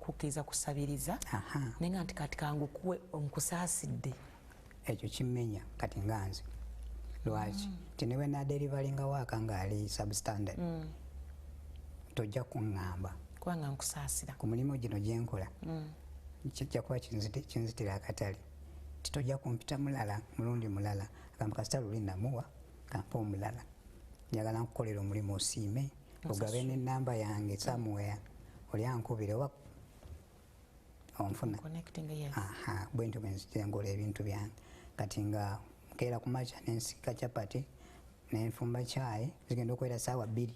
kukkiriza kusabiriza naye nga nti kati kangukuwe nkusaasidde ekyo kimenya kati nga nze lwaki mm. nti ne bwenaderivalinga waaka ngaali substandard mm. tojja kuŋŋamba kubanga nkusaasira ku mulimu gino gyenkola mm. kijja kuba kinzitira akatale nti tojja kumpita mulala mulundi mulala agamba kasita luli namuwa kampa omulala njagala nkukolera omulimu osiime ogabe ne namba yange somewhere oli ankubira oba onfuna bwentyo bwenzizengola ebintu byange kati nga nkeera ku makya nensika chapati nenfumba kyayi zigenda okubeera saawa bbiri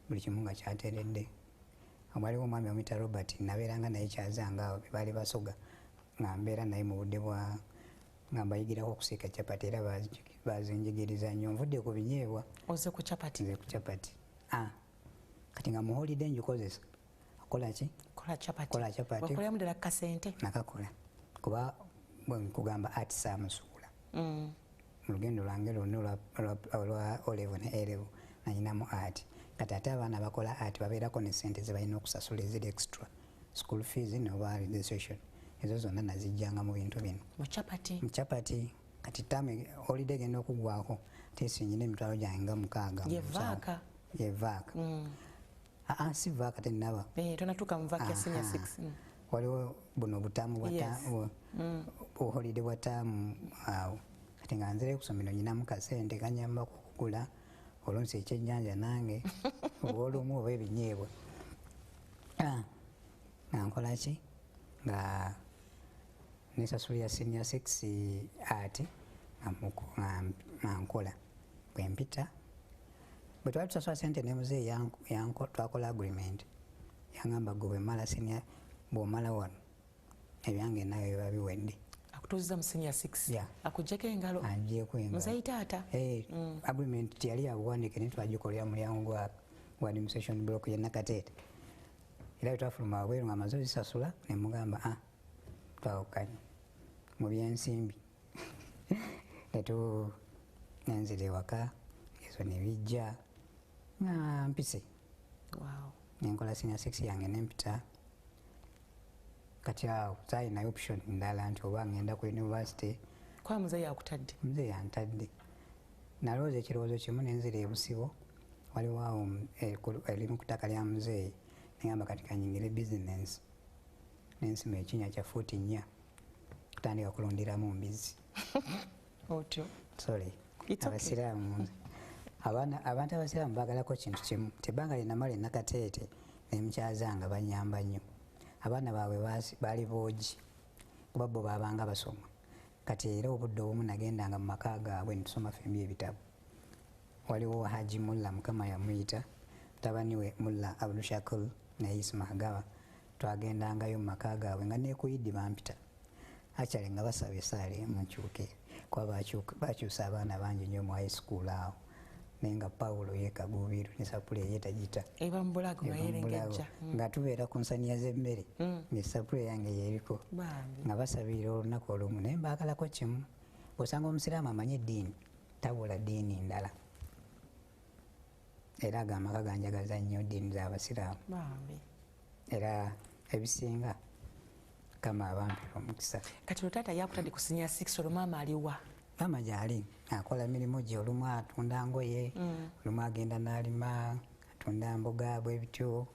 buli kimu nga kyateredde waliwo omwami omuyita robert nabeeranga naye kyazangaawo bebaali basoga nga mbeera naye mu budde bwa nga mbayigirako okusiika capati era bazinjigiriza nnyo nvudde ku binyeebwa oze ku capati nze ku capati ah, kati nga muholide ngikozesa kolaki kola capati kola capati wakolera mudala kasente nakakola kuba nkugamba ati samusuula mm. mulugendo lwange lwonna olwa olevo ne elevo nanyinamu ati kati ate abaana bakola ati babeerako ne sente zebalina okusasula eziri extra school fees noba registration ezo zonna nazijjanga mu bintu bino mucapati kati tamu olide genda okugwako tesinyina emitwalo gyange nga mukaaga yevaaka mm. aa si vaaka tenaba eh, mm. waliwo buno butamu buholide bwa tamu mm. awo kati nga nzire kusomero nyinamu kasente kanyamba kukugula olunsi ekyennyanja nange olwomu oba ebinyeebwa ah, nga nkola ki nga nesasulira senior six ati nga nkola bwempita bwe twali tusasula sente ne muzeeyi twakola agreement yangamba gwe bwemala senior bwomala wano ebyange nawe biba biwedde akutuuziza mu senior 6 yeah. akujjako engalo anjeko engalo muzayi taata hey, eh, mm. agreement tiyali yabuwandike naye twagikolera mulyango gwa gwa administration block ye nakateete era twafuluma wabweru nga amaze ozisasula ne mugamba a ah, twawukanye mu byensimbi netu nenzira ewaka ezo ne bijja nga mpise wow. nenkola senior 6 yange nempita kati awo sayinayo option ndala nti oba ngenda ku university kwa muze yakutadde muze yantadde nalowooza ekirowoozo kimu nenzira ebusibo waliwo awo eh, elimu eh, kutaka lya muzeeyi neyamba kati kanyingire business nensima ekinya kya fuuti nnya kutandika kulundiramu mbizi otyo sorry abasiraamu abaana abantu abasiraamu baagalako kintu kimu tebanga linamala enakateete nemukyaza nga banyamba nnyo abaana baabwe baali boogi kuba bo baabanga basoma kati era obudde obumu nagendanga mu maka gaabwe netusoma fembi ebitabo waliwo haji mulla mukama yamuyita mutabani we mulla abdushakul naye ismahagawa twagendangayo mu maka gaabwe nga nekuyiddi bampita actually nga basaba esaala emu nkyuke kuba bakyusa abaana bangi nyo mu high school awo naye nga pawulo yekagubiru ne sapule eye tagita nga tubeera ku nsaniya z'emmere hmm. ngaesapule yange yeriko nga basabirira olunaku olumu naye mbaagalako kimu osanga omusiraamu amanyi eddiini tabula ddiini ndala era ago amaka ganjagaza nnyo ddiini z'abasiraamu era ebisinga kama abantu omukisa kati otata yakutadde kusinya 6 olwo maama aliwa maama gyali akola mirimu gye olumu atunda ngoye mm. olumu agenda n'alima atunda mboga bwebityo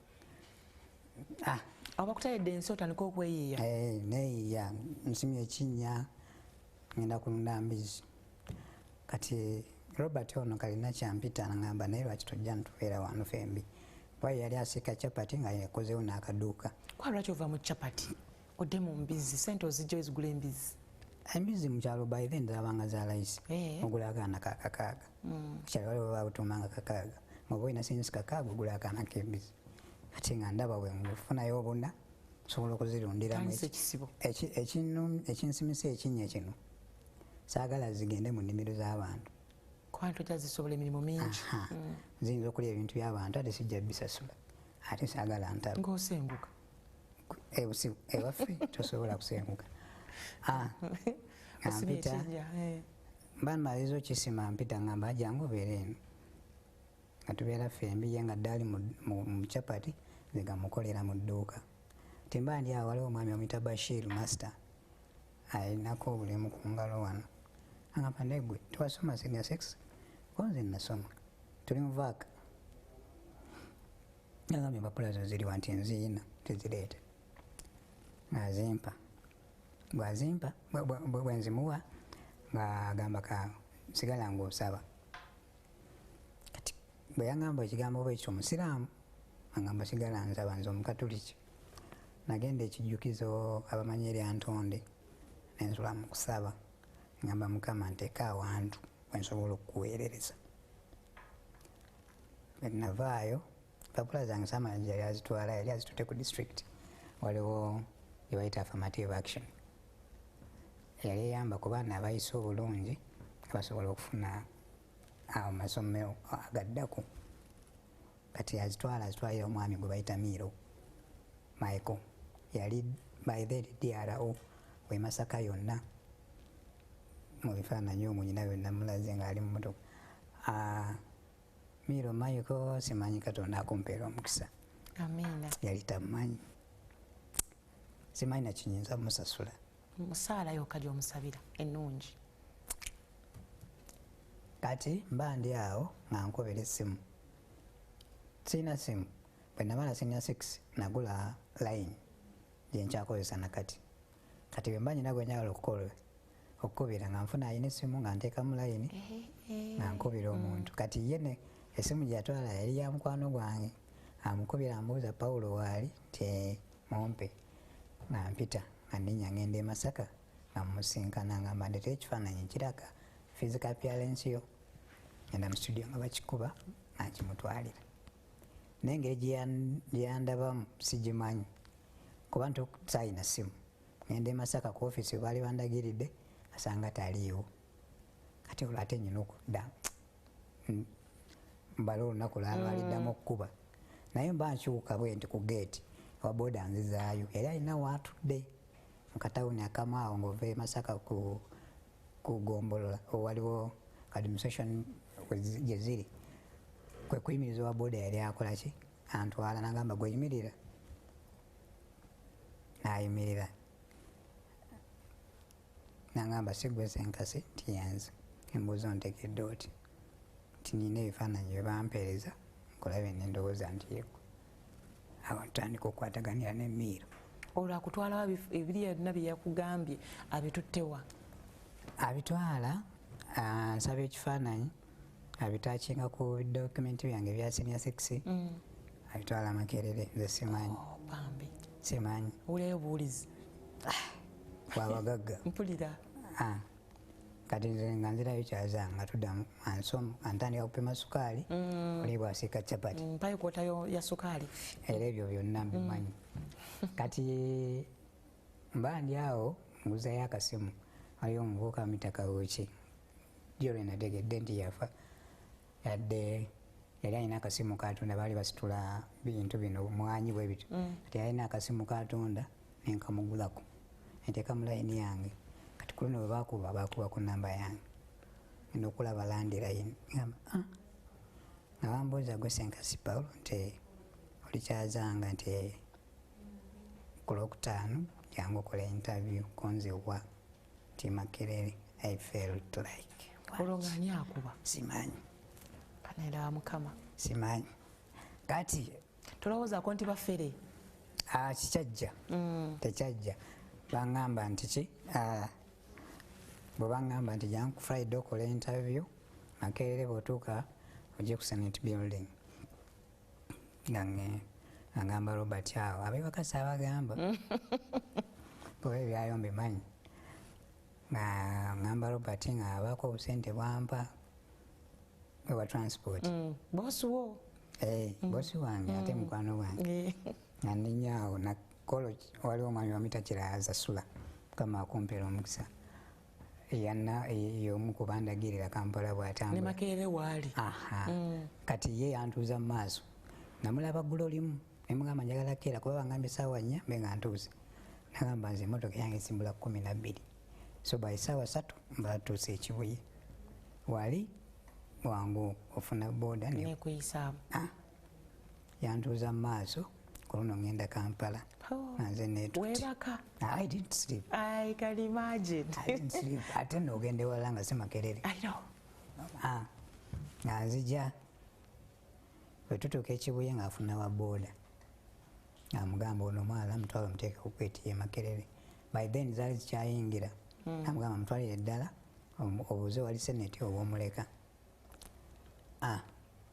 ah. abakutayedde ensi otandika okweyiiya eh, neyiiya nsimu ekinnya ngenda kulunda mbizi kati robert ono kalina kyampita nagamba naye lwaki tojja ntubeera wano fembi Why yali asika chapati nga yakozewo n'akaduuka. Kwa lwaki ova mu chapati odde mu mbizzi sente ozijja ozigula embizzi. Embizzi mu kyalo by then zaabanga za layisi eh. ogula akaana ka kakaaga. Mm. Kyalo waliwo babutuumanga kakaaga ng'oba olina sente kakaaga ogula akaana k'embizzi ate nga ndaba we ngufunayo obuna osobola okuzirundiramu ekinsimisa ekinnya kino saagala zigende mu nnimiro z'abantu nziyinza okulya ebintu byabantu ate sijja bisasula ate sagala ntabusenguka ewaffe tosobola kusenguka ah, mpita eh. mba maliza okisima mpita ngamba jangu obeera eno nga tubeera fembi ye nga ddaali mu chapati nzigamukolera mu dduuka timba ndi awo waliwo omwami omuyita bashir master alinako obulemu ku ngalo wano angamba naye gwe tewasoma senior sex konze nasoma tuli muvaaka agambye empapula zo ziriwa nti nziina tezireeta azimpa bwazimpa bwenzimuwa ngaagamba ka sigala ngaosaba kati bweyangamba ekigambo bwekyo omusiraamu angamba sigala nsaba nze omukatuliki nagenda ekijjukizo abamanyi erya ntonde nensula mu kusaba ngamba mukama nteeka awantu wensobola okukuweerereza navaayo papula zange samanji yali azitwala yali azitute ku district waliwo ebayita affirmative action yali eyamba ku baana abayise obulungi abasobola okufuna amasomero agaddako kati azitwala azitwalira omwami gwe bayita miiro maiko yali by then dro wemasaka yonna mu bifaananyi omwo nyina yonna mulaze ngaali mu motoka ah, miiro maiko simanyi katonda akumpeera omukisa yali tamanyi simanyi nakinyinza musasula musaala yoka gyomusabira enungi kati mba ndi awo nga nkubira essimu sirina simu bwe naba na senior six nagula line gyenkyakozesa nakati kati bwe mba nyina gwe njagala okukola okukubira nga nfuna ayina essimu nga nteekamu layini nga nkubira mm. omuntu kati ye ne essimu gyeyatwala yali ya mukwano gwange amukubira ambuuza pawulo waali nti mumpe nga mpita nga nenya ngenda e masaka nga musinkana nga mbandeta ekifaananyi kiraga physical appearance yo ngenda mu studio nga bakikuba nakimutwalira naye engeri gyeyandabamu sigimanyi kuba nti sayina simu ngenda e masaka ku ofisi webaali bandagiridde asanga taliiwo kati olwate nyina okudda hmm. mbala olunaku laba aliddamu mm. okukuba naye mba nkyuka bwe nti ku geeti waboda nzizaayo era alina waatudde mu katawuni akamaawo ng'ova e masaka ku gombolola owaliwo administration gye ziri kwe kuyimiriza owa boda yali akola ki antwala nagamba gweyimirira nayimirira nangamba sigwe senkasi nti yenze embuuza ontegedde oti nti nina ebifaananyi byebampeereza nkulabe nendowooza nti yegwe awo ntandika okukwataganira nemiiro olwo akutwalawo ebiri yonna byeyakugambye abituttewa abitwala ah, nsaba ekifaananyi abitakinga ku dokumenti byange bya senior sex mm. abitwala makerere nze simanyi oh, simanyi uleyo buwulizi wabagagga mpulira ah. kati nze nga nzirayo kyaza nga tuddamu ansomu antandika kupima sukaali mm. oli bwasiika capati mm, mpayo kwotayo ya sukaali era ebyo byonna mbimanyi kati mba ndi awo nguzayo akasimu ayo omuvuuka mitaka wuki jolwe nategedde nti yafa yadde yali alina akasimu katonda baali basitula bintu bino mwanyi bwe bityo mm. kati yalina akasimu katonda nenkamugulako enteeka mu layini yange kati kuluno bwe bakuba bakuba ku namba yange enda okulaba landi layini gamba ah. nga bambuuza gwe senkasi paulo nti olikyazanga nti kulwokutaano jangu okola intavyu konziwa nti makerere i felt like olwo nga ani akuba simanyi kanaera wa mukama simanyi kati tolowoozako nti bafere ah, kikyajja mm. tekyajja bangamba nti ki ah, bwe bangamba nti janku friday okola interview makerere bwotuuka ojja ku senate building gange agamba robert awo abebakasa abagamba kuba ebyayo mbimanyi nga ngamba robert nga abako obusente bwampa ewa transport mm. bosi wo eh, mm. bosi wange ate mm. mukwano wange eh. nga ndinyaawo nakolo waliwo omwami wamita kiraza sula mukama akumpera omukisa yomu kubandagirira kampala bwatambula makerere waali mm. kati ye yantuuza mu maaso namulaba gula olimu nemugamba njagala keera kuba bangamba esaawa nnya mbe nga ntuuze nagamba nze emotoka yange esimbula kumi nabbiri so by saawa satu mbatuuse ekibuye wali wangu ofuna boda nekuyisaamu ah. yantuuza mu maaso ku luno ŋŋenda kampala oh. nanze netuwebaka ate noogenda ewalala nga si makerere ah. nga nzija bwe tutuuka ekibuye ng'afuna wa booda amugamba ono omwala mutwala omuteeka kukwetiye makerere by then zaali zikyayingira hmm. amugamba mutwalire ddala obuuze wali seneti obwomuleka ah.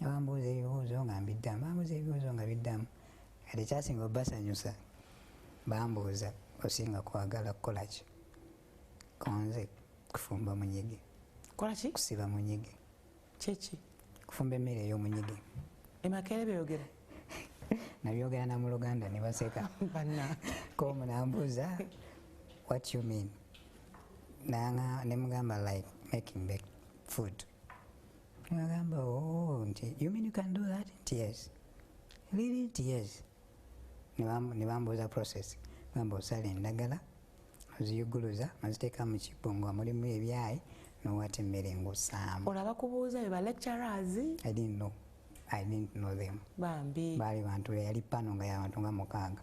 nga bambuuza ebibuuzo nga mbiddamu bambuuza ebibuuzo nga biddamu kati kyasinga obasanyusa bambuuza osinga kwagala kukola ki konze kufumba munyige kolaki kusiba munyige kyeki kufumba emmere ey'omunyige emakere byogera nabyogera na mu luganda ne baseka komu nambuuza what you mean nanga ne mugamba like making food Agamba oh, nti you mean you can do that? Nti yes. Really? Nti yes. Ne bambuuza process. Gamba osala endagala, oziyuguluza, oziteeka mu kibbo nga mulimu ebyayi, n'owata emmere ng'ossaamu. Olaba kubuuza be ba lecturers? I didn't know. I didn't know them. Bambi. Baali bantu be yali pano nga y'abantu nga mukaaga.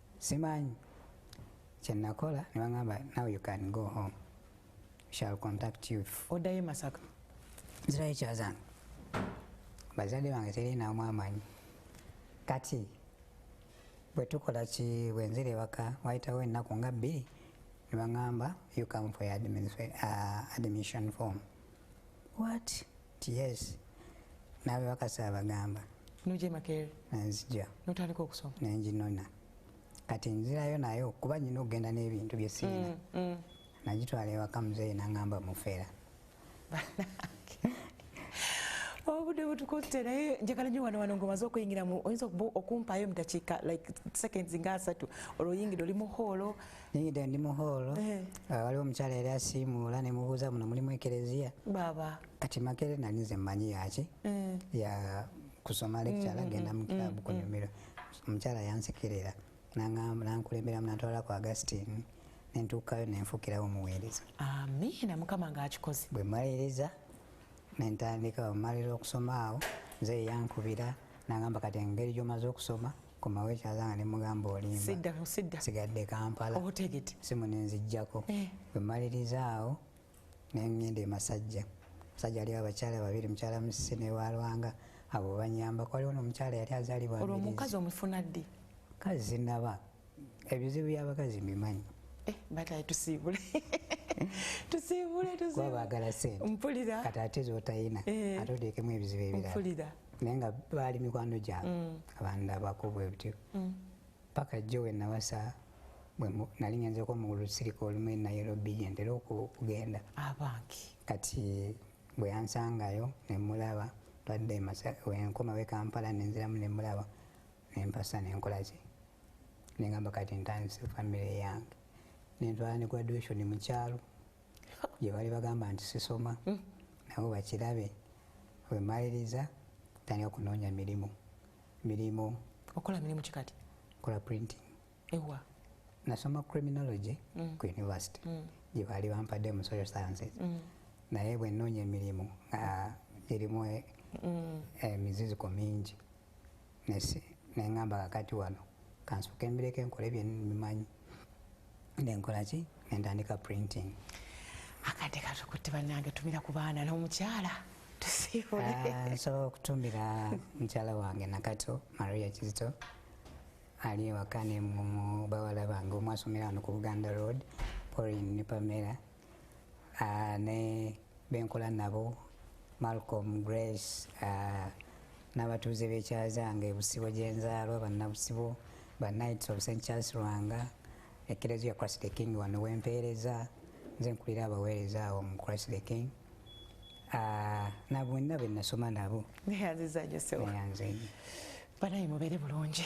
simanyi kyenakola nebangamba now you can go home shall contact you odayo e masaka nzirayo ekyazange bazadde bange terinamu amanyi kati bwetukola ki bwenzira ewaka wayitawo ennaku nga bbiri nebangamba you come for uh, admission form what yes nawe bakasa abagamba nuje makere nzija notandika okusoma nenjinona kati nzirayo nayo kuba nyina okugenda n'ebintu byesiina mm, mm. nagitwala ewaka muzeeyi nangamba mufera obude butukutte naye njagala nyo wano wano ngaomaze okuyingiramu oyinza okumpaayo mu dakiika like seconds nga asatu olwoyingire oli mu hoolo Niyidde ndi mu hall eh. ah, waliwo omukyala yali asiimuula ne mubuuza muno mulimu ekereziya baaba kati makere nali nze mmanyi yaki eh. ya kusoma lecture mm, agenda mm, mu club mm, kunyumiro omukyala yansekerera nankulemberamu natwala ku Augustine nentuukayo nenfuukirawo omuweereza amiina mukama ngaakikoze bwe mmaliriza nentandika omalira okusoma awo nze yankubira nangamba kati engeri gyomaze okusoma komawo ekyazanga ne mugamba olimba sigadde kampala simu nenzijjako eh. wemalirizaawo nengenda emasajja musajja aliwo abakyala babiri mukyala musisi newalwanga abo banyamba kwaliwo nomukyala yali azalibwaomukazi omufuna ddi kazi sinaba ebizibu byabakazi mbimanyi eh, bataye tusiibule tusiibule tusiibule bagala sente mpulira kati ate zotayina eh. ate odeekemu ebizibu ebirala naye nga baali mikwano gyange mm. abandabako bwebutyo mm. paka jjo wenawasa nali ngenzeko omugulu sirika olumu e nairobi gyentera okugenda abanki kati bwe yansangayo nemulaba twadde wenkoma we kampala nenziramu nemulaba nempasa nenkolaki nengamba kati ntandise famire yange nentwala ne graduation mukyalo gyebali bagamba nti sisoma hmm. nabo bakirabe wemaliriza tandika kunoonya mirimu mirimu okola mirimu kikati kola printing ewa nasoma criminology mm. ku university mm. gye baali bampadde mu social sciences mm. naye bwe nnoonya emirimu nga girimu e, mm. emiziziko mingi nesi nengamba kakati wano kansuke mbireke nkole byenmimanyi nenkola ki nentandika printing akade katukutte banange tumira ku baana nomukyala ah, nsobola okutumira mukyala wange nakato maria kizito ali ewaka nemubawala bange omu asomera wano ku buganda road porin ne pamera uh, ne benkola nabo malcolm grace uh, n'abatuuze b'ekyazanga ebusibo gyenzaalwa bannabusibo ba knights of st charles rwanga ekereziya christ the king wano wempeereza nze nkulira abaweereza awo mu christ the king uh, nabonna be nasoma nabo neyanziza nyo sewa neyanze banaye mubere bulungi